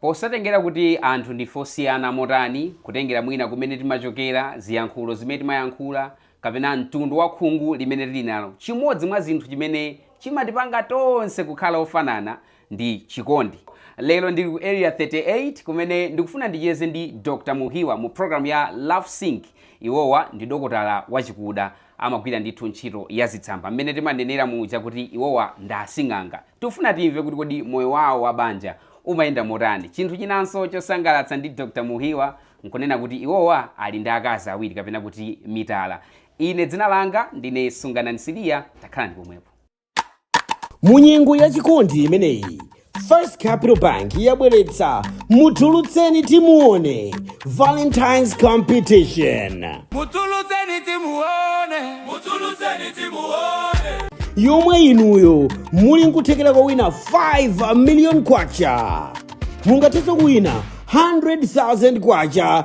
Posatengera kuti anthu ndife osiyana motani, kutengera mwina kumene timachokera, ziyankhulo zimene timayankhula, kapena mtundu wa khungu limene tili nalo, chimodzi mwa zinthu chimene chimatipanga tonse kukhala ofanana ndi chikondi. Lero ndili ku Area 38 kumene ndikufuna ndicheze ndi Dr. Muhiwa mu program ya Love Sync. Iwowa ndi dokotala wachikuda amagwira ndithu ntchito ya zitsamba mmene timanenera muja kuti iwowa ndi asing'anga. Tikufuna timve kuti kodi moyo wawo wa banja umayenda motani. Chinthu chinanso chosangalatsa ndi Dr. Muhiwa nkunena kuti iwowa ali ndi akazi awiri kapena kuti mitala. Ine dzina langa ndine Sunganani Siliya, takhalani pomwepo. mu nyengo ya chikondi imeneyi first capital bank yabweretsa mutulutseni timuone valentines competition mutulutseni timuone mutulutseni timuone yomwe inuyo muli nkuthekera kowina 5 million kwacha mungathenso kuwina 100,000 kwacha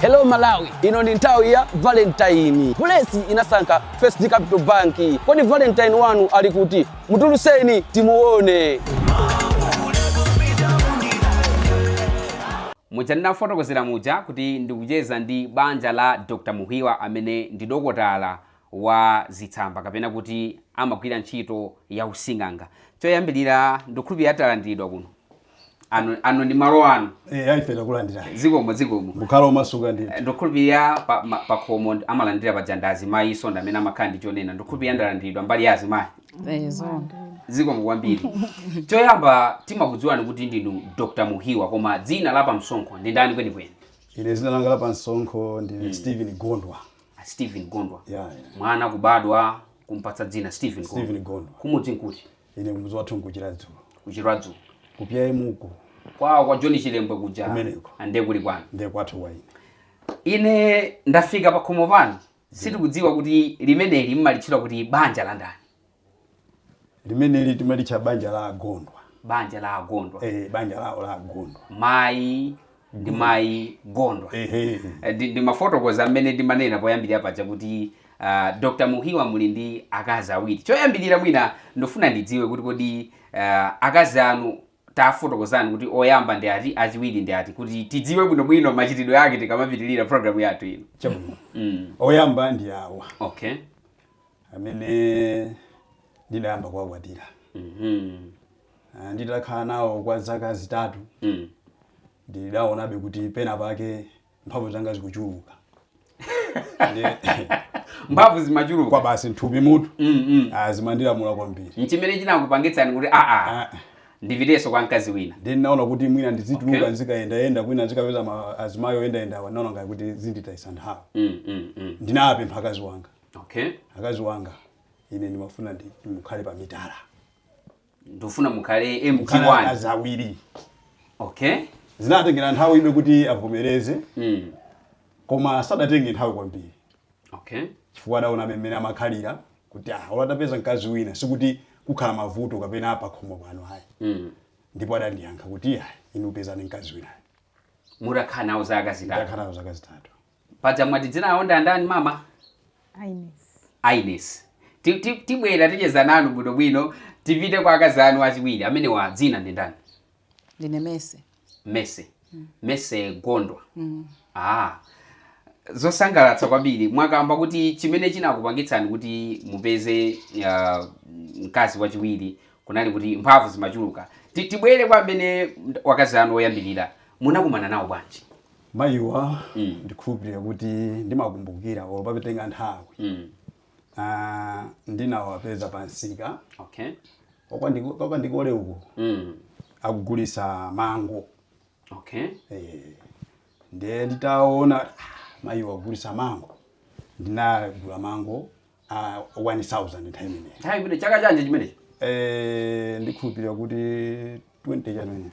Hello Malawi, ino ndi nthawi ya Valentine. Bulesi inasankha First Capital Bank. Kodi Valentine wanu ali kuti? Mutulutseni timuone. muja ndinafotokozera muja kuti ndikucheza ndi banja la dr muhiwa amene ndi dokotala wa zitsamba kapena kuti amagwira ntchito ya using'anga choyambirira ndikukhulupirira talandiridwa kuno ano, ano ndi malo anu Eh, aife takulandira. zikomo zikomo Mukhala omasuka ndi. ndikukhulupirira pa- ma- pakhomo ndi- amalandira paja ndi azimayi so ndamene amakhala ndi chonena ndikukhulupirira ndalandiridwa mbali ya azimayi zikomo kwambiri choyamba timakudziwani kuti ndinu dr muhiwa koma dzina la pamsonkho ndi ndani kwenikweni Ine dzina langa la pamsonkho ndi Steven Gondwa. a Steven Gondwa. Yeah, yeah. Mwana kubadwa kumpatsa dzina Steven Gondwa. Steven Gondwa. Kumudzi nkuti Ine mudzi wathu nku Chiradzulu. ku Chiradzulu. Ku PIM uko Kwa kwa John Chilembwe kuja Kumeneko. ande kuli kwanu. ndiye kwathu wa ine. Ine ndafika pakhomo pano. Sitikudziwa kuti limeneli mmalitchula kuti banja la ndani. limeneli timalitcha banja la agondwa banja la agondwa eh, banja lawo la agondwa mayi ndi mayi gondwa ehe Eh, ndi- ndimafotokoza mmene ndimanena poyambirira paja kuti uh, dr muhiwa muli ndi akazi awiri choyambirira mwina ndifuna ndidziwe kuti kodi uh, akazi anu tafotokozani kuti oyamba ndi ati achiwiri ndi ati kuti tidziwe bwinobwino machitidwe ake tikamapitirira programu yathu ino chabwino mm. oyamba ndi awa okay amene ndidayamba kuwakwatira Mhm. Ah, nditakhala nawo kwa zaka zitatu Mm. ndidaonabe kuti pena pake mphamvu zanga zikuchuluka Ndiye- mphamvu zimachuluka kwabasi mthupi mutu Mm, mm. ah, zimandilamula kwambiri nchimene chinakupangitsani kuti aa Ah, ndipitenso kwa mkazi wina ndiye ndinaona kuti mwina ndizituluka Okay. nzikayendayenda kwina nzikapeza ma- azimayi oyendayendawa ndinaona ngati kuti zinditayisa nthawi Mm, mm, mm. ndinapempha akazi wanga okay akazi wanga ine ndimafuna mukhale pa mitala ndifuna mukhale mukhale akazi awiri okay zinatengera nthawi ibe kuti avomereze mm. koma sadatenge nthawi kwambiri okay chifukwa adaona mmene amakhalira kuti ah olo atapeza mkazi wina sikuti kukhala mavuto kapena apa khomo pano ayi mm. ndipo adandiyankha kuti ah inu pezani mkazi winayo mutakhala nawo zaka zitatu ndakhala nawo zaka zitatu paja mwati dzina lawo ndi andani mama Ines. Ines Ti- ti- tibwere ticheze nanu bwinobwino tipite kwa akazi anu achiwiri amenewa dzina ndi ndani ndine mese mese mese gondwa ah zosangalatsa kwambiri mwakamba kuti chimene chinakupangitsani kuti mupeze uh, mkazi wachiwiri kunali kuti mphamvu zimachuluka Ti- tibwere kwa amenewa akazi anu oyambirira munakumana nawo bwanji Mayiwa ndikhulupirira kuti ndimakumbukira olo papitanga nthawi. Ah, ndinawapeza pa msika Okay. Papa ndiko- kwa Ndikole uko Mm. akugulisa mango Okay. Eh, ndiye nditaona ah, mayiwa akugulisa mango ndinagula mango a 1000 nthawi imeneyo Nthawi imene chaka chanji chimenechi. Eh, ndikhulupirira kuti 20 chanene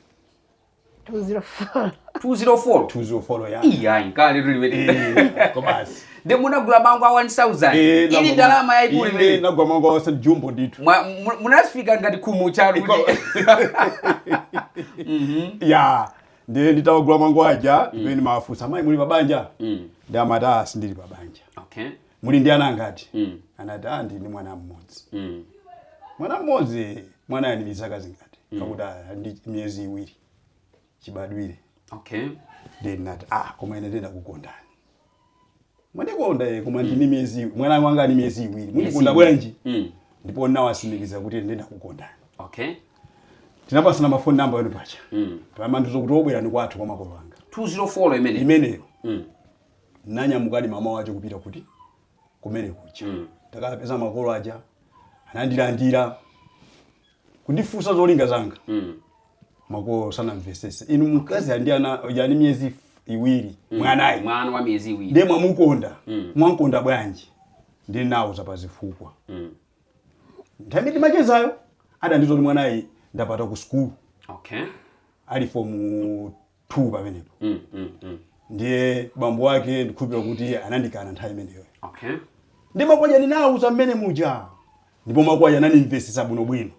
204 204 tuzofolo ya iyayi nkale tuliwete Eh, kwabasi ndi munagula mango a 1000 Eh, ili nagwa- ndalama yaikulu Ine imene nagula mango wasa jumbo ndithu Mwa- mu- munafika ngati khumu chanu Iko- kuti ya ndiye nditawagula mango aja ndi pamene nawafunsa mayi muli pabanja Mm. ndiye amati ah sindili pabanja okay muli ndi ana angati mm. anati ah ndi mwana mmodzi mm. mwana mmodzi mwana ali ndi zaka zingati mm. akuti "Ah, ali ndi miyezi iwiri chibadwire okay then nati ah koma ine ndiye ndakukondani mwandikonda ye koma ndine miyezi iwi- mwana wanga ali miyezi iwiri mundikonda iwiri. bwanji mm. ndipo nawasimikiza kuti ine ndiye ndakukondani okay tinapasana mafoni namba yanu pacha mm. pomandiuza kuti o bwerani kwathu kwa makolo anga 204 imene imeneyo mm. Nanyamukadi mmamawa wache kupita kuti? Kumene kuja. Mm. Takapeza makolo aja anandilandira kundifunsa zolinga zanga. Mm. Makolo sanamvesese. Inu mkazi ali ndi mwana wa miyezi f- iwiri mm. mwanayi. Mwana wa miyezi iwiri. Ndiye mwamukonda. Mm. Mwankonda bwanji? Ndili nawo zapazifukwa. Mm. Nthawi ndimachezayo adandiuza kuti mwanayi ndapatira ku sukulu. Okay. ali fomu 2 pamenepo Mm, mm, mm. ndiye bambo wake ndikhulupira kuti anandikana nthawi imeneyo Okay. ndiye makolo aja ndinawauza mmene muja ndipo makolo aja anandimvesesa bwinobwino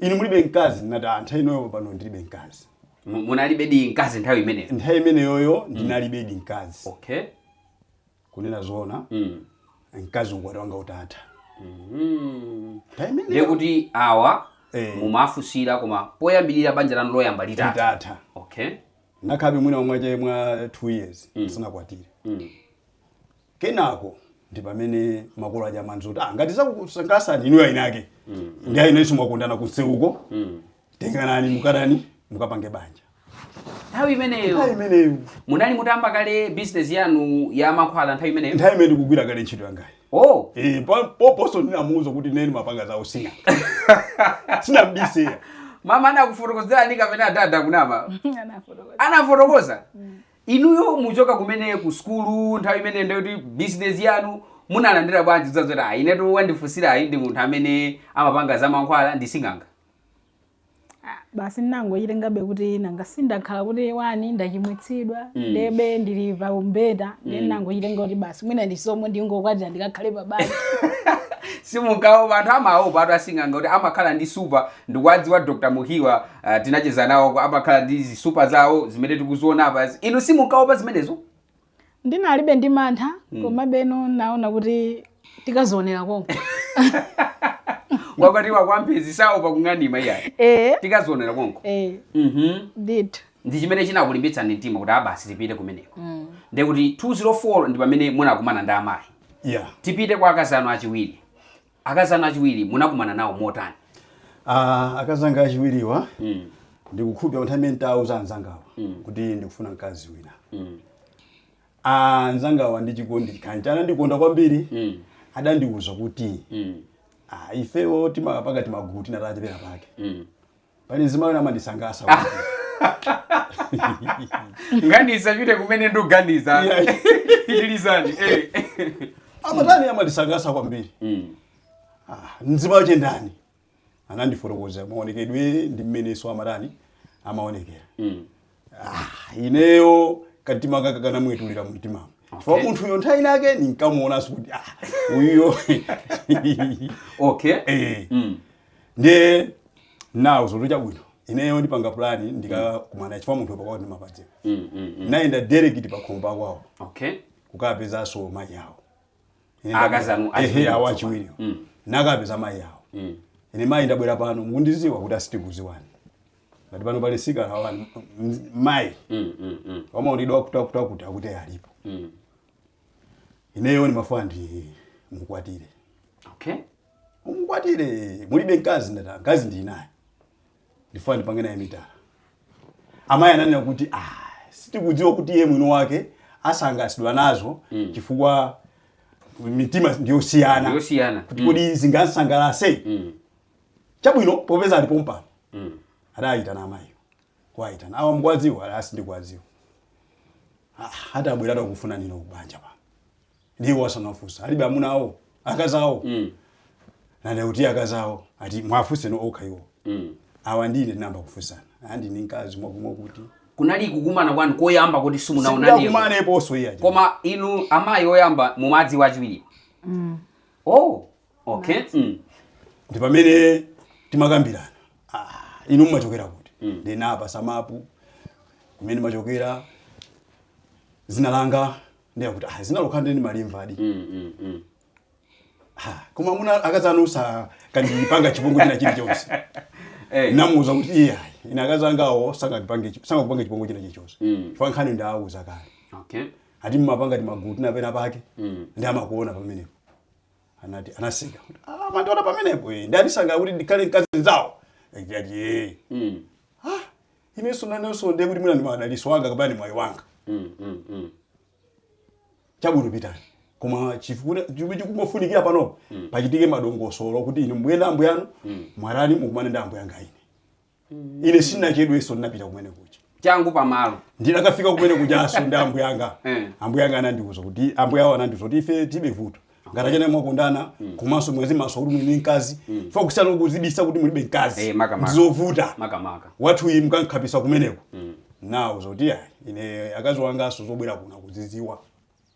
inu mulibe mkazi ndinati "Ah, nthawi inoyo pano ndilibe mkazi Mu- Munalibedi mkazi nthawi imeneyo? Nthawi imeneyoyo ndinalibedi mkazi Okay. kunena zoona mkazi ukwati wanga utatha nthawi imeneyo ndiye kuti awa Eh. mumafunsira koma poyambirira banja lanu loyamba litatha okay nakhabe mwina mwache mwa 2 years ndisanakwatire kenako ndi pamene makolo aja amandiuza kuti ah ngati zakusangalasani inuyo aineake ndi ainenso mwakondana kumsewuko tenganani mukatani, mukapange banja nthawi imeneyo nthawi imeneyo munali mutayamba kale business yanu ya mankhwala nthawi imeneyo nthawi imene ndikugwira kale ntchito yangayi oh Eh, pa- pomponso ndinamuuza kuti ine ndimapanga za using'anga sinambise mama anakufotokozerani kapena adada kuna ama anafotokoza anafotokoza inuyo mukuchoka kumene ku skulu nthawi imeneyo ndikuti business yanu munalandira bwanji zazoti ayi inetu wandifunsirayi ndi munthu amene amapanga za mankhwala ndi sing'anga Ah, basi ndinangochitengabe kuti nanga si ndakhala kuti one ndachimwitsidwa ndiyebe ndili pa umbeta ndi ndinangochitenga kuti basi mwina ndisomo ndingokwatira ndikakhale pa banja simunkaopa anthu amaopatu asing'anga kuti amakhala ndi supa ndikuwadziwa dr mukiwa uh, tinacheza nawo amakhala ndi zisupa zawo zimene tikuziona apazi inu simunkaopa zimenezo ndinalibe ndi mantha komabeno naona kuti tikazionera konko wakwatiwa kwa mphezi saopa kung'anima iyayi ee tikazionera konko ee Mhm. ndithu ndi chimene chinakulimbitsani mtima kuti ah basi tipite kumeneko nde kuti 204 ndi pamene munakumana ndi amayi yeah tipite kwa akazi anu achiwiri Akazi anu achiwiri munakumana nawo motani? Uh, akazi anga achiwiriwa mm. ndikukhulupira kuti nthawi nditauza anzangawa mm. kuti ndikufuna mkazi wina mm. Ah, anzangawa ndi chikondi kanji anandikonda kwambiri mm. adandiuza kuti mm. ah, ifewo timapanga timagulu titachepera pake mm. pali mzimayi wina amandisangalatsa ngati nzapite kumene ndikuganiza Yeah. pitilizani eh. amatani amandisangalatsa kwambiri Mm. Ah, mzimayi wache ndani anandifotokoza maonekedwe ndi mmeneso amatani amaonekera Mm. Ah, ineyo kamtima kanga kanamwetulira mumtimamo chifukwa munthuyo nthawi inake ndinkamuonanso kuti ah, uyo okay Eh. Mm. ndiye nawauza kuti chabwino ineyo ndipanga plani ndikakumana chifukwa munthu pakwawo ndimapadziwa Mm, mm, mm. nayenda direct pakhomo pakwawo okay kukapezanso mayi awo Ine Ah, ndabwera- akazi anu Ehe, achiwiri awo tsopano. achiwiriwo Mm. nakapeza mayi awo Mm. ine mayi ndabwera pano mukundiziwa kuti ah sitikuziwani ndati pano pali mtsikana wanu mayi Mm, mm, mm, wamaonekedwe akutiakuti akuti alipo mm. ineyo ndimafuna ndimukwatire Okay. umukwatire mulibe mkazi ndati mkazi ndinaye ndifuna ndipange naye mitala amayi ananena kuti ah, sitikudziwa kuti iye mwini wake asangalasidwa nazo chifukwa mitima ndiyosiyana Ndiyosiyana. kuti kodi zingamsangalase Mm. chabwino popeza ali pompano mm. adayitana amayiwo kuwayitana awa mukuwadziwa ati ah sindikuwadziwa Ah, ati abwera ati akufuna inuyo kubanja pa ndiwo wasanafunsa alibe amuna awo akazi awo mm. nanda kuti akazi awo ati muwafunse nokha iwo mm. awa ndiye tinayamba kufunsana ah ndili ndi mkazi mwaku- mwakuti kunali kukumana kwanu koyamba kuti simunaonanepo sitinakumaneponso iye aja. koma inu amayi oyamba mumadziwa achiwiri oh okay Madzi. mm. ndi pamene timakambirana ah, inu mumachokera kuti mm. ndinapasa mapu kumene ndimachokera zina langa ndiye kuti ah, zina lokha nde ndimalimvadi Mm, mm, mm. ha, koma muna akazanu sakandipanga chipongwe china chilichonse Eh, namuuza kuti iya ine akazi angawo sangandipange chi- sangakupange chipongwe china chilichonse Mm. chifukwa nkhani ndawuza kale okay ati mmapanga timagulu tina penapake Mm. ndiye amakuona pamenepo anati anaseka kuti ah amandiona pamenepo eh nde andisankha kuti ndikhale mkazi nzawo ndati eh Mm. ah inenso nanenso ndiye kuti mwina ndi madaliso wanga kapena ndi mwayi wanga Mm. Mm. Mm. chabwino pitani koma chifukwa chomwe chikungofunikira panopa pachitike madongosolo kuti inu mbuyenda ambuyanu mwarani mukumane ndi ambuyanga ine ine sinachedweso ndinapita kumene kuja changu pamalo ndinakafika kumene kujaso ndi ambuya anga Eh. ambuya anga anandiuza kuti ambuya awo anandiuza kuti ife tilibe vuto ngati achene mwakondana komanso mwazimasula kuti muli ndi mkazi chifukwa kusiyana kuzibisa kuti mulibe mkazi Eh, maka, maka. ndizovuta makamaka wathuyu mukamkhapisa kumeneko nawauza kuti ayi ine akazi wangaso zobwera kuno akuziziwa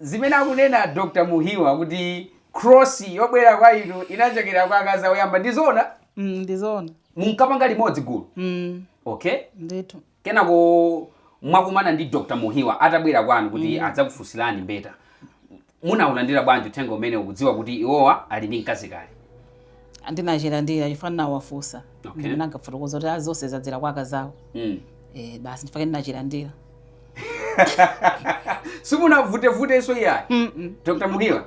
Zimene akunena Dr. Muhiwa kuti cross yobwera kwa inu inachokera kwa akazi awo oyamba ndi zoona? Mm, ndi zoona. Munkapanga limodzi gulu? Mm. Okay. Ndithu. Kenako mwakumana ndi Dr. Muhiwa atabwera kwanu kuti mm. adzakufunsirani mbeta. Munaulandira bwanji uthenga umenewu mukudziwa kuti iwowa ali ndi mkazi kale? ndinachilandira chifukwa ndinawafunsa Okay. ndipo ndinakafotokoza kuti zonse zadzera kwa akazawo Mm. eh, basi nchifukwa chake ndinachilandira simunavutevutenso iyayi Mm-mm. dr muhiwa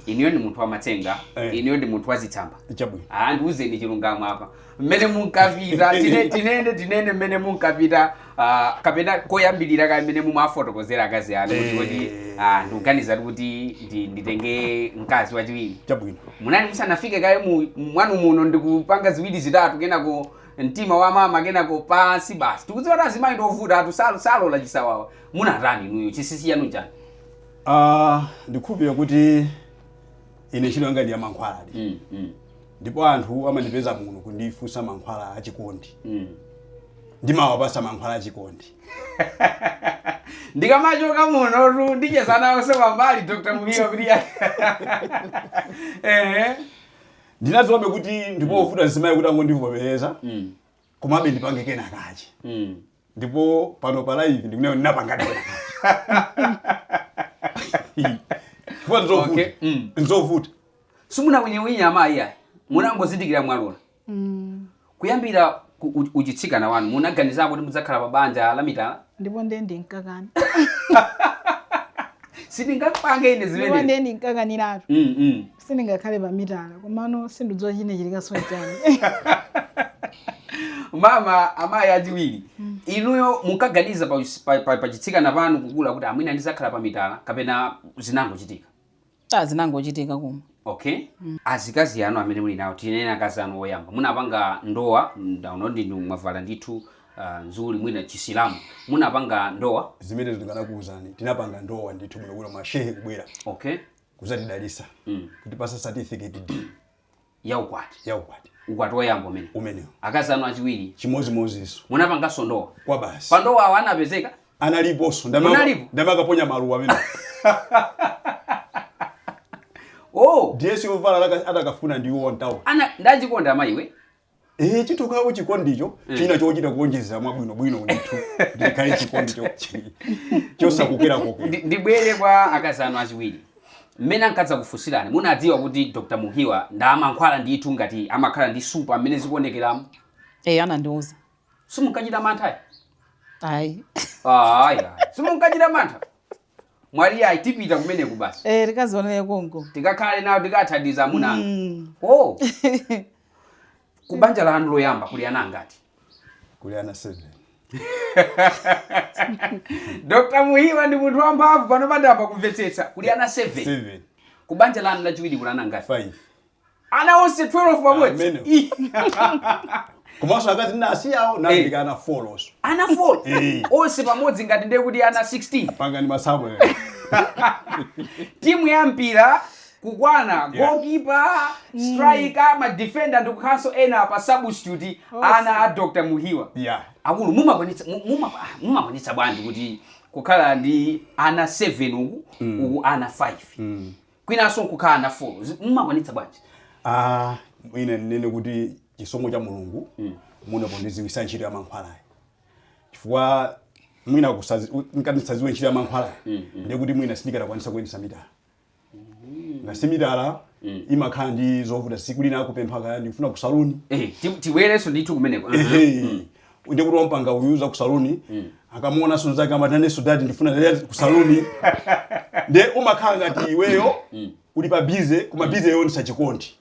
inuyo ndi munthu wamatsenga Eh. inuyo ndi munthu wazitsamba chabwino andiuzeni chilungamo apa mmene munkapita tine- tinene tinene mmene munkapita Ah, kapena koyambirira mmene mumafotokozera akazi anu kuti Eh. kodi ah, ndikuganiza kuti kuti ndi- nditenge mkazi wachiwiri chabwino munali musanafike kaye mu- mwanu muno ndikupanga ziwiri zitatu kenako mtima wa mama kenako pansi basi tikudziwa kuti azimayi ndiovutatu sal- salola chisawawa munatani inuyo chinsinsi chanu nchani Ah, ndikhulupirira kuti ine ntchito yanga ndi yamankhwala Mm, mm. ndipo anthu amandipeza kuno kundifunsa mankhwala achikondi mm. ndimawapasa mankhwala achikondi ndikamachoka munotu ndicheza nawonso pambali dr muhiwa kuti ndinadziwabe kuti ndipovuta mzimayi kuti angondivomereza mm. komabe ndipange kena kache mm. ndipo pano pa live ndikunena ndinapangadi chifukwa nzovuta Okay, mm. nzovuta simunawinyewinye amayi ayi munangozindikira mwalola kuyambira ku- u- uchitsikana wanu munaganiza kuti mudzakhala pa banja la mitala ndipo ndiye ndinkakana sindingapange ine ndipo zimenezi ndiye ndinkakaniratu Mm, mm. sindingakhale pa mitala komano sindikudziwa chinachitikanso chani mama amayi achiwiri inuyo munkaganiza pa, pa, pa, pa chitsikana panu kukula kuti mwina ndizakhala pa mitala kapena zinangochitika Ah, zinangochitika koma okay azikazi anu amene muli nawo tinene akazi anu oyamba munapanga ndowa ndaona ndinu mwavala ndithu uh, nzuli mwina chisilamu munapanga ndowa zimene tikanakuwuzani tinapanga ndowa ndithu bwinobwino mashehe kubwera okay kuzatidalisa mm. kutipasa certificate ya ukwati ya ukwati ukwati woyamba umene umenewo akazi anu achiwiri chimodzimodzinso munapanganso ndowa kwa basi pandowa awo anapezeka analiponso Munalipo? ndamakaponya maluwa amene oh dress yovala laka- atakafuna ndiwo ntawo ana ndachikonda mayiwe Eh, chithu kawo chikondicho china chochita kuonjezera mwabwinobwino ndithu ndikhale chikondi cho- chi- chosakokera kokera Ndi- ndibwere kwa akazi anu achiwiri mmene ankadzakufunsirani munadziwa kuti dr muhiwa ndamankhwala ndithu ngati amakhala ndi nsupa mmene zikuonekeramo eyi anandiuza simunkachita mantha ayi ayi simunkachita mantha mwati ayi tipita kumeneko basi eh tikazionere konko tikakhale nawo tikathandize amuna anga Mm. oh ku banja lanu loyamba kuli ana angati kuli ana 7 dr muhiwa ndi munthu wamphamvu pano ndayamba kumvetsetsa kuli ana 7 7 ku banja lanu lachiwiri kuli ana angati 5 ana onse 12 pamodzi Amene. Ih, komanso akazi ndi asiyawo nandika ana 4so ana 4 Eh. onse pamodzi ngati ndiye kuti ana 16 pangani masamu ena. timu ya mpira kukwana Yeah. gokipa striker madefenda ndi kukhalanso ena pa substitute ana a dr muhiwa yeah akulu mumakwanitsa mu- muma- ah, mumakwanitsa bwanji kuti kukhala ndi ana 7 uku uku ana 5 kwinanso nkukhala ana 4 Zi- mumakwanitsa bwanji Ah, ine ndinene kuti chisomo cha mulungu mu ndi pondiziwisa ntchito ya mankhwalayi chifukwa mwina kusazi- u- nkanati ndisaziwe ntchito ya mankhwalayi ndiye kuti mwina sindikadakwanisa kuyendesa mitala nanga si mitala imakhala ndi zovuta siku lina akupempha kaya ndikufuna kusaluni Eh, ti- tibwerenso ndithu kumeneko Aha. Ehe. ndiye kuti wampanga uyu za ku saluni akamuonanso mzake amati nanenso dadi ndifuna lero ku saluni ndiye umakhala ngati iweyo uli pa bize koma bize yoonesa chikondi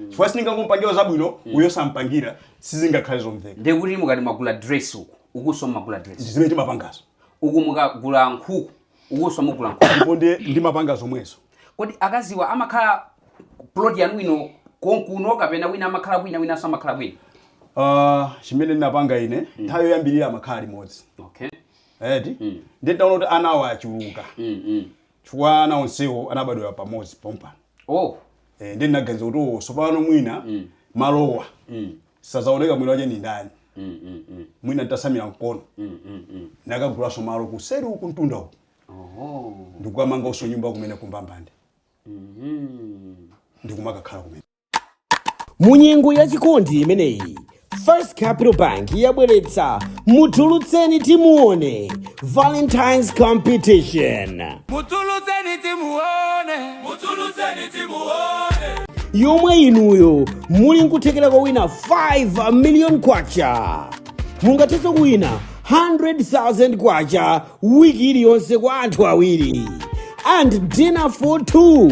chifukwa sindingangompangira uyo zabwino uyo osampangira sizingakhale zomveka ndekuti mukati mwagula dress uku ukuso magula dress zimene timapangazo uku mukagula nkhuku ukuso mugula nkhuku ndipo ndiye ndimapanga zomwezo kodi akaziwa amakhala plot yanu ino konkuno kapena wina amakhala kwina winanso amakhala kwina Ah, chimene ndinapanga ine nthawi yoyambirira amakhala limodzi okay eti ndiye ndinaona kuti anawa achuluka mm, mm. chifukwa ana onsewo anabadwera pamodzi pompano oh Eh, ndiye ndinaganiza kuti owo sopano mwina malowa Sazaoneka mwina wache ndindani mwina ntasamila mkono nakagulaso malo kuseli uku kumtunda uku ndikukamangaso nyumba kumene kumbambande ndikumakakhala kumene munyengo ya chikondi imeneyi first capital bank yabweretsa mutulutseni timuone Valentine's Competition. Mutulutseni timuone, mutulutseni timuone. Yomwe inuyo muli nkuthekera kowina 5 million kwacha. Mungathenso kuwina 100,000 kwacha wiki iliyonse kwa anthu awiri. And dinner for two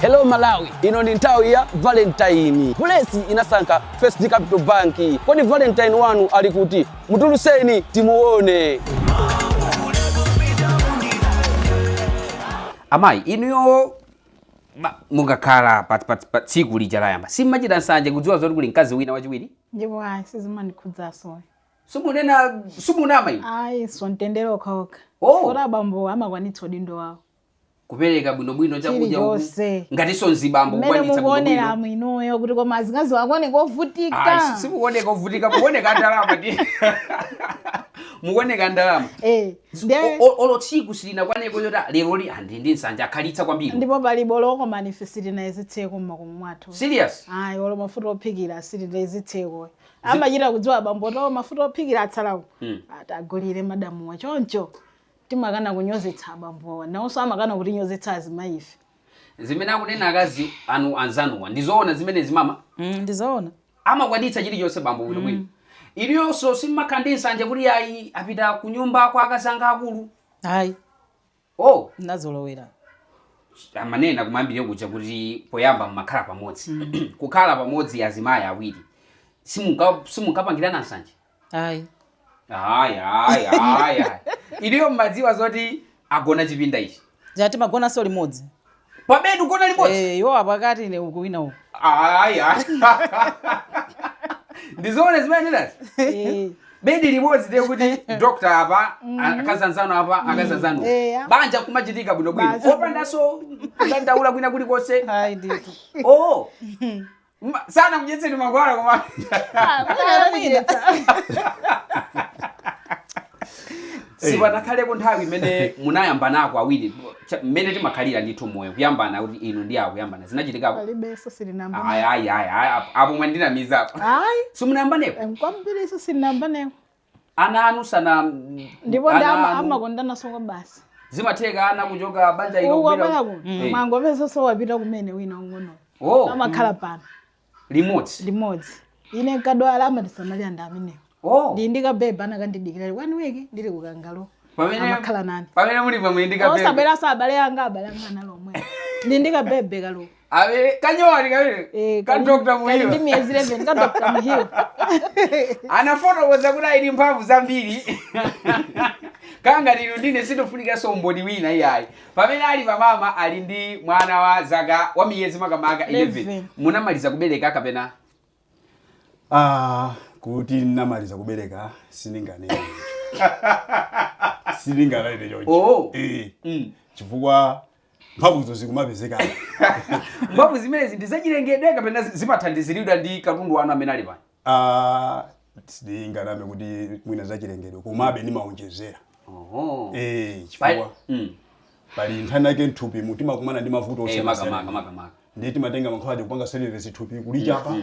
Hello Malawi, ino ni nthawi ya Valentine. Blessing anasankha First Capital Bank. Kodi Valentine wanu ali kuti? Mutulutseni timuone. amayi inuyo ma- mukakhala pa- pa pa tsiku lija loyamba simmachita nsanje kudziwa zoti kuli mkazi wina wachiwiri ndipo ayi sizimandikhudzaso simunena simunama inu ayi so mtendere okhaokha Oh. kuti abambo amakwanitsa udindo wawo kupereka bwinobwino chakudya uku Chilichonse. ngatinso mzibambo mmene kukwanitsa mukuonera bwinobwino mwinuyo kuti koma azikazi awo akuoneka ovutika Ayi, simukuoneka ovutika mukuoneka ndalama ndithu mukuoneka ndalama Eh, ndiye- O- o- olo tsiku silinakwaneko loti lero ali ndi nsanje akhalitsa kwambiri ndipo palibe olo koma ife sitinayezetseko mmakomo mwathu serious ayi olo mafuta ophikira sitinayezetseko amachita kudziwa abambo oti mafuta ophikira atsalawo Mm. atagulire madamuwa choncho timakana kunyozetsa abambowa nawonso amakana kutinyozetsa azimayi ife zimene akunena akazi anu anzanuwa ndizoona zimenezi mama mm, ndizoona amakwanitsa chilichonse bambo bwino bwino iliyonso simmakhala ndi nsanje kuti ayi apita kunyumba kwa akazi anga akulu ayi oh ndinazolowera amanena kumayambire kuja kuti poyamba mmakhala pamodzi kukhala pamodzi azimayi awiri simunka- simunkapangirana nsanje ayi ayi ayi ayi ayi iliyo mmadziwa zoti agona chipinda ichi ati timagonanso limodzi pabedi kugona limodzi Eh, iwo apakati ine uku wina uku ayi ayi ndizoona zimenezi Eh, bedi limodzi ndiye kuti doctor apa akazi anzanu apa akazi anzanu Eya. banja kumachitika bwinobwino Banja. opandanso kudandaula kwina kulikonse ayi ndithu oh Ma- sanakudyetseni mankhwala koma Ah, mwina anamudyetsa. sipanakhaleko nthawi imene munayambanako awiri cha- mmene timakhalira ndithu moyo kuyambana kuti inu ndiye kuyambana zinachitikako palibenso silinamba ayi ayi ayi ayi, apo- apo mwandinamizapo ayi simunayambanepo kwambiri so sitinayambaneko ana anu sana ndipo ana ndama anu- amakondanaso kwabasi zimatheka ana kuchoka banja ilo uwa kubwera- bwako Eh, mwangopezaso wapita kumene wina ung'ono oh, amakhala pano limodzi limodzi ine nkadwala amatisamalira ndi amenewo oh, ndili ndi kabebe anakandidikira ali one week ndili kukangalo pamene amakhala nani pamene muli pamwe ndi kabebe osabweranso abale anga abale anga analomwe ndili ndi kabebe kaloko awe kanyowani kawiri Eh, ka kali- dr muhiwa kali ndi miyezi 11 ka dr muhiwa anafotokoza kuti ali ndi mphamvu zambiri kanganiro ndine sindifunikanso umboni wina iyayi pamene ali pamama ali ndi mwana wa zaka wa miyezi makamaka 11 11. munamaliza kubereka kapena Ah, kuti ndinamaliza kubereka sindinganene sindinganene choncho Oh. Eh, mm. chifukwa mphamvuzo zikumapezekabe mphamvu zimenezi ndi zachilengedwe kapena zi- zimathandiziridwa ndi katundu wanu amene ali pano Ah, sitinganame kuti mwina zachilengedwe komabe ndimaonjezera Oho. Eh, Pali- chifukwa Mm. pali nthawi yake mthupimu timakumana ndi mavuto Eh, osiyana makamaka siyana. makamaka ndiye timatenga mankhwala aja kupanga service thupi kulichapa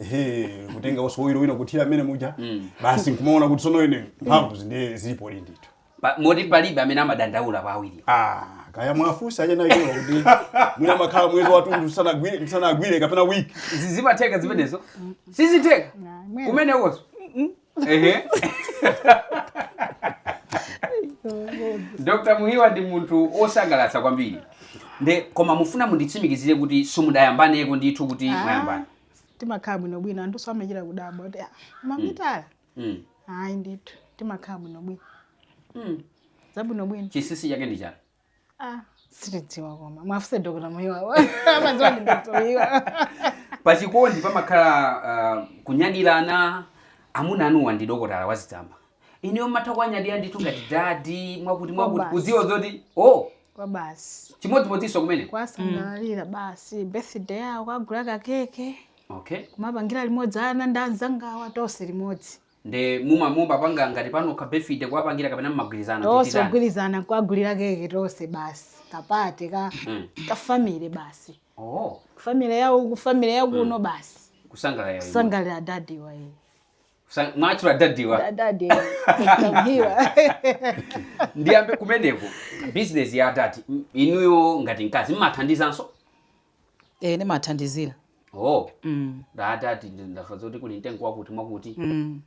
ehe kutengaso oyiro wina kuthira mmenemuja basi nkumaona kuti sono ine mphamvu ndiye zilipodi ndithu Pa- moti palibe amene amadandaula pa awiri Ah, kaya mwafunsa achina iwo kuti mwina mmakhala mwezi wathunthu tisanagwire tisanagwire kapena wiki Zi- zimatheka zimenezo sizitheka mwene. kumenekoso ehe dr Muhiwa ndi munthu osangalatsa kwambiri nde koma ndifuna munditsimikizire kuti simudayambaneko ndithu kuti mwayambana timakhala bwinobwino anthuso amachita kudabwa kuti "Ah, mamitala Mm. ayi ndithu timakhala bwinobwino Mm. zabwinobwino chinsinsi chake ndi chani ah sitidziwa koma mwafunse dokota Muhiwawa amadziwa ndi dokota Muhiwawa pachikondi pamakhala ah, kunyadirana amuna anuwa ndi dokotala wazitsamba ineyo mmatha kuwanyadira ndithu ngati dadi mwakuti mwakuti Kwabasi. kudziwa zoti o kwa basi chimodzimodzinso kumeneko kwasangalalira basi birthday yawo kwagula kakeke okay kumapangira limodzi ana ndi anzangawa tonse limodzi nde muma mumapanga ngati pano kabirthday kuwapangira kapena mmagwirizana tonse tichitani? kugwirizana kuwagulira keke tonse basi kapate ka Mm. kafamily basi oh kufamily yawo kufamily yakuno basi kusangalala iwe. kusangalalira adadi waye Kusa- mwatchula dadiwa adadi a Muhiwa ndiyambe kumeneko bizinesi ya adadi m- inuyo ngati mkazi mmathandizanso Eh, nimathandizira. Oh, Mm. dadi ndamva zoti kuli mtengo wakuti mwakuti Mm.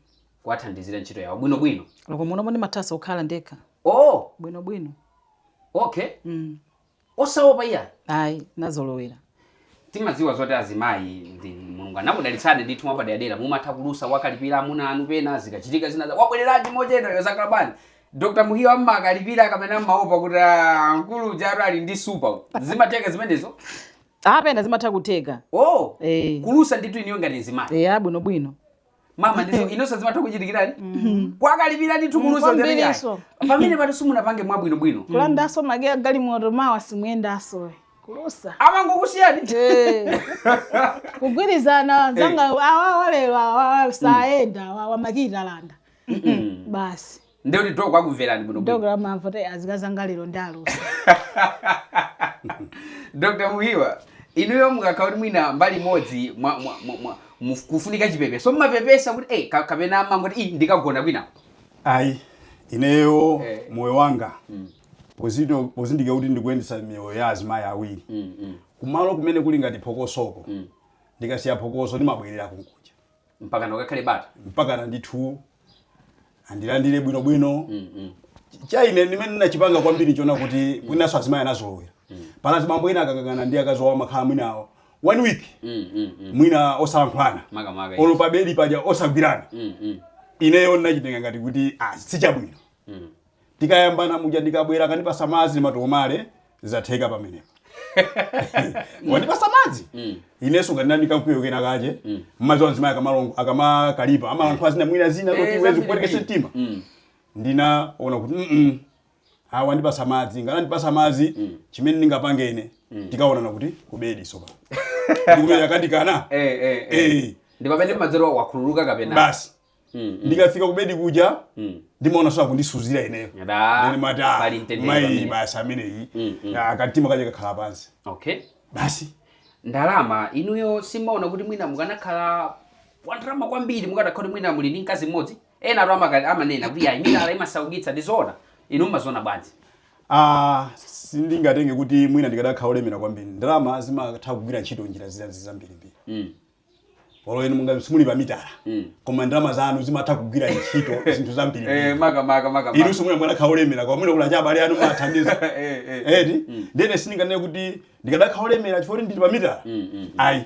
kuwathandizira ntchito yawo bwino bwino. Loko munomo nimathaso kukhala ndekha. Oh, Bwino bwino. okay. Mm. Osaopa iya. Ayi, nazolowera. Timadziwa zoti azimayi inu Mulungu anakudalitsani ndithu mwapaderadera mumatha kulusa kuwakalipira amuna anu pena zikachitika zina za wabwereranji mochedwa zakhala bwanji. Dr Muhiwawa mmakalipira kapena mmaopa kuti ah, mkulu ujatu ali ndi nsupa uyu. zimatheka zimenezo pena zimatha kutheka oh Eh. kulusa ndithu ineyo ngati nzimayi eya bwinobwino mama ndizo inunso zimatha kuchitikirani kwakalipira ndithu kulusa kwambiri ngati iso. ayi. pamenepatu simunapange mwabwinobwino kulandaso makiyi a galimoto mawa simuyendaso kulusa amangokusiyani Eh. kugwirizana anzanga awawa lero awawa sayenda awawa makiyi talanda basi ndiye kuti Doc akumverani bwino bwino Doc amamva kuti akazi anga lero andilusa dr muhiwa inuyo mukakhala kuti mwina mbali imodzi mwa- mwa- mwa- mwa- muf- kufunika chipepeso mumapepesa kuti eh, ka- kapena mumangoti "Ih, ndikagona kwina ayi ineyo Eh. moyo wanga pozindikira kuti ndikuyendetsa miyoyo ya azimayi awiri kumalo kumene kuli ngati phokosoko ndikasiya phokoso ndimabwerera kunkuja mpakana kukakhale bata mpakana ndithu andilandire bwinobwino cha ine chimene ndinachipanga kwambiri ndchonena kuti mwinaso azimayi anazolowera pali azibambo ena akakangana ndi akazi wawo amakhala mwina one week mwina osalankhulana Makamaka, yes. olo pabedi paja osagwirana ineyo ndinachitenga ngati kuti ah, sichabwino tikayambana muja ndikabwera akandipasa madzi ndimatomwa zatheka pamenepo wandipasa madzi inenso ngati ndili ndi kamkwiyo kenakake mmadziwa azimayi akamalongo akamakalipa amalankhula zina mwina zina Eh, kuti iwe zi zambiri kupwetekesa mbiri. mtima Mm. ndinaona kuti mm awa wandipasa madzi ngati andipasa madzi chimene ndingapange ine tikaonana kuti kubedi sopa ndikumene akandikana Eh, eh, eh. Eh. ndi pamene madzero wakhululuka kapena basi Mm, mm. ndikafika kubedi kuja Mm. ndimaona so akundisuzira ineyo Ada, Ndiye ndimati, ah, pali mtendere mayi pamene. basi ameneyi Mm, mm. Ah, kamtima kaja kakhala pansi okay basi ndalama inuyo simumaona kuti mwina mukanakhala wandalama kwambiri mukadakhala kuti mwina muli ndi mkazi mmodzi ena atu amaka- amanena kuti ayi mitala imasaukitsa ndizoona inu mmaziona bwanji Ah, sindingatenge kuti mwina ndikadakhala olemera kwambiri ndalama zimatha kugwira ntchito njira zina zambirimbiri mm. olo inu mungakhale simuli pa mitala Mm. koma ndalama zanu zimatha kugwira ntchito zinthu zambiri Eh, maka maka maka. inu simuli mwina kukhala olemera koma mwina kuli abale anu mumathandiza Eh, eh, eh. eti ndene sindinganene kuti ndikadakhala olemera chifukwa kuti ndili pa mitala Mm, mm. ayi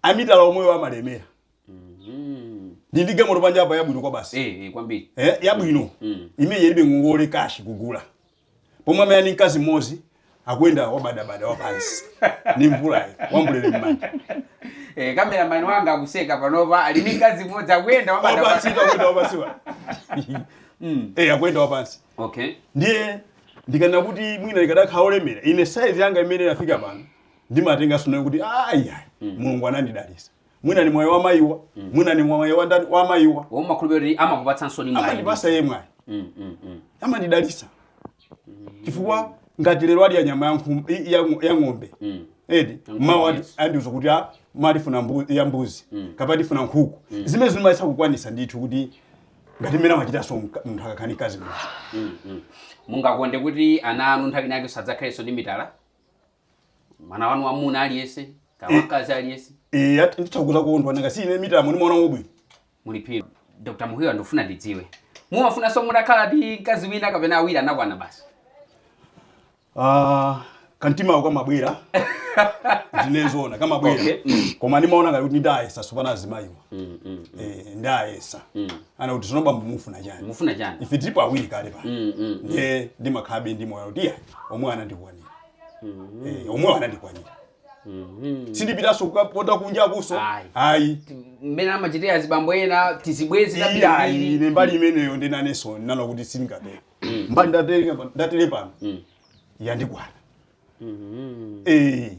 amitala omwewo amalemera Mm. ndili ndi galimoto panja apa yabwino kwabasi Eh, eh, kwambiri. Eh, yabwino Mm. imene ilibe ngongole kashi kugula pomwe amene ali ni mkazi mmodzi akuyenda wabadabada wapansi ni mvulayi ambulera mmanja Eh, kameramani wanga akuseka panopa ali ndi mkazi mmodzi akuyenda wabada wapansi wabada. akuyenda wapansi awa Mm. eh akuyenda wapansi Okay. ndiye ndikanene kuti mwina ndikadakhala olemera ine saizi yanga imene ndinafika pano ndimaitengaso nayo kuti ayi mulungu anandidalisa mwina ni mwayi wa mayiwa mwina ni mwayi wa ndani wa mayiwa oh mumakhulupirira kuti amakupatsanso ni mwayi amandipasa ye mwayi Mm, mm, mm. amandidalisa chifukwa ngati lero adya nyama ya nkhum- i- ya ng- ya ng'ombe Mm. eti Nkhumba, mawa andi- yes. andiuza kuti ah tifuna mbu- ya mbuzi kapena tifuna nkhuku zimenezi ndimayesa kukwanisa ndithu kuti ngati mmene amachitanso mka- munthu akakhala ni mkazi muja Mm, mm. mungakonde kuti ana anu nthawi inayake adzakhalenso ndi mitala mwana wanu wamuna aliyese kaya wamkazi aliyese Eh, ati nditha kudzakondwa nanga si ine mitala ndimaona ubwino. muli phiri dr muhiwa ndikufuna ndidziwe mumafunanso mutakhala ndi mkazi wina kapena awiri anakwana basi Ah, kantimawo kamabwera. Ndinezona kamabwera. Okay. Mm. Koma ndimaona ngati kuti ndayesa zophana azimayiwa. Mm, mm, Eh, ndayesa. Mm. Anati tsono bambo mufuna chani. mufuna chani Ife tilipo awiri kale pa. Mm, mm. Ndiye ndimakhalabe ndi moyo kuti ya omwe anandikwanira. Eh, omwewo anandikwanira sindipitanso kukapota kunjakunso Ayi. ayi mmene amachitira azibambo ena tizibwezi iyayi tambiri ine mbali imeneyo ndinanenso ndinana kuti sindingatero mbali ndatere- ndatere pano yandikwana Eh,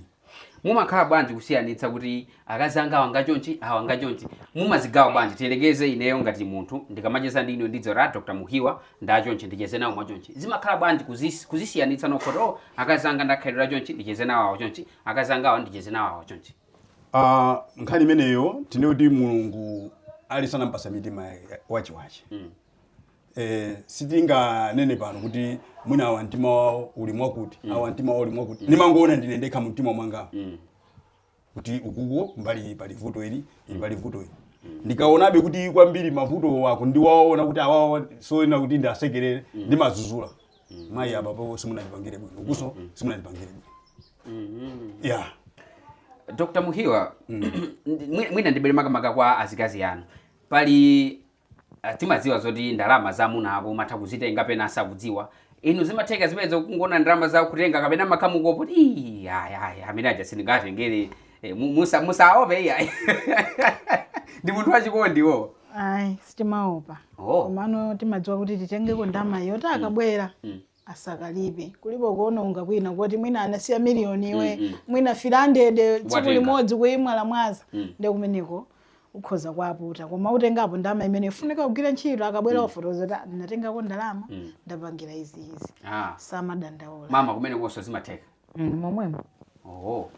mumakhala bwanji kusiyanitsa kuti akazi anga awanga chonchi awanga chonchi mumazigawa bwanji tiyerekeze ineyo ngati munthu ndikamacheza ndi inu ndidziwa dr muhiwa ndachonchi ndicheze nawo mwachonchi zimakhala bwanji kuzis- kuzisiyanitsa nokha kuti oh akazi anga ndakhalira chonchi ndicheze nawo awo chonchi akazi anga awo ndicheze nawo awo chonchi Ah, nkhani imeneyo tinene kuti mulungu ali sanampasa mitima ya- wachewache eh, sitinganene pano kuti mwina awa mtima wawo uli mwakuti awa mtima wawo uli mwakuti ndimangoona ndi ine ndekha mumtima mwanga kuti uku ku mbali iyi pali vuto ili ili pali vuto ili ndikaonabe kuti kwambiri mavuto ako ndiwaona kuti awawa soyenera kuti ndiasekerere ndimadzudzula mayi apapo simunandipangire bwino ukunso simunandipangire bwino ya dr muhiwa mwi- mwina ndibwere makamaka kwa azikazi anu pali timadziwa zoti ndalama za amuna ako umatha kuzitenga pena asakudziwa inu zimatheka zimenezo kungoona ndalamazo kutenga kapena mumakhala mukuopa kuti "Ii, ayi ayi amene aja sindingatengere Eh, mu- musa musaope iyayi ndi munthu wachikondiwo ayi sitimaopa Oh. komano timadziwa kuti titengeko ndalama yoti akabwera Mm. asakalipe kulipo kuononga kwina koti mwina anasiya miliyoni iwe Mm, mm. mwina 500 tsiku Watenga. limodzi kuimwazamwaza Mm. ndi kumeneko ukhoza kuaputa koma utengapo ndalama imene ifunika kugwira ntchito akabwera ufotokoza kuti "Ah, ndinatengako ndalama Mm. ndapangira izi izi Ah. samadandaula mama kumenekonso zimatheka Mm, momwemo oho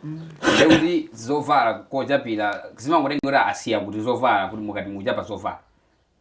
ndekuti zovala kochapira zimangotengera asiya kuti zovala kuti mukati mukuchapa zovala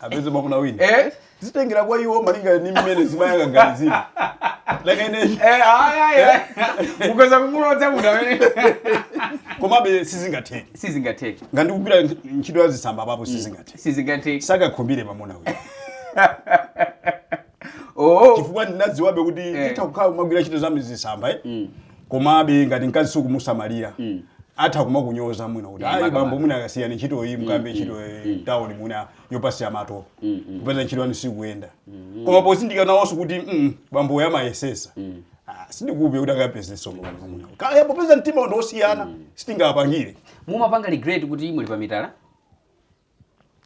apeze mwamuna wina eh zitengera kwa iwo malinga ndi mmene zimayanganizira nanga ine eh aya aya ukhoza kumulodza munthu amene komabe sizingatheke sizingatheke nanga ndikugwira ntchito ya zisamba apapo sizingatheke sizingatheke sakakhumbire mwamuna wina oh chifukwa ndinadziwabe kuti Eh. nditha kukhala kumagwira ntchito za zitsamba eh? Mm. komabe ngati mkazi sukumusamalira Mm. atha kumakunyoza mwina kuti Yeah, ayi makamaka. bambo mwina akasiyani ntchito iyi mukambe ntchito eh, town mwina yopasiya mato kupeza ntchito yanu sikuyenda koma pozindikira nawonso kuti mm, bambo uyu amayesesa Ah, sindikhulupirira kuti akapezeso kaya popeza mtima ndi osiyana sitingawapangire mumapanga regret kuti muli pa mitala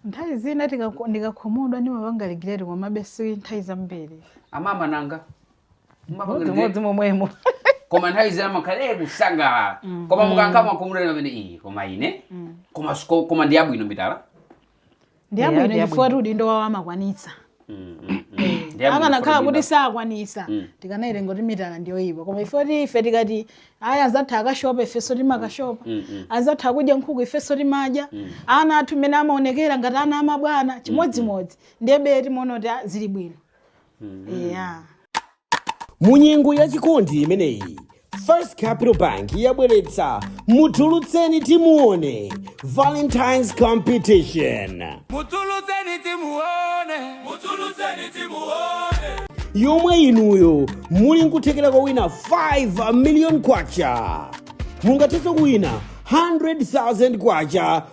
nthawi zina tikako- ndikakhumudwa ndimapanga regret komabe si nthawi zambiri amama nanga Mumapanga regret? chimodzimodzi momwemo koma nthawi zina timakhala eh kusangalala koma mukankha makhumudwa mwina pena ayi koma ine koma siko- koma ndiyabwino mitala ndiyabwino Yeah, chifukwa ndiyabwino. kuti udindo wawo amakwanitsa akanakhala kuti sakwanisa mm. tikanayitenga kuti mitala ndiyoyipa koma ife kuti ife tikati ayi anzathu akashopa ifenso timakashopa mm, mm, anzathu akudya nkhuku ifenso timadya ana athu mmene amaonekera ngati ana amabwana chimodzimodzi ndiye bwezi timaona kuti ah, zili bwino yeah. mu nyengo ya chikondi imeneyi first capital bank yabweretsa mutulutseni timuone valentines competition mutulutseni timuone mutulutseni timuone yomwe inuyo muli nkuthekera kowina 5 million kwacha mungathenso kuwina 100,000 kwacha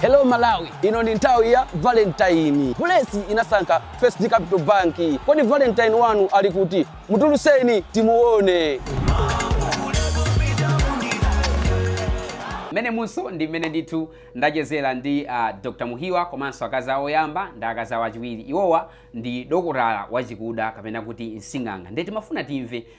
Hello Malawi, ino ndi nthawi ya Valentine. Bulesi inasankha First Capital Bank. Kodi Valentine wanu ali kuti? Mutuluseni timuone. mmenemunso ndi mmene ndithu ndachezera ndi uh, dr muhiwa komanso akazi awo oyamba ndi akazi awo achiwiri iwowa ndi dokotala wachikuda kapena kuti msing'anga ndiye timafuna timve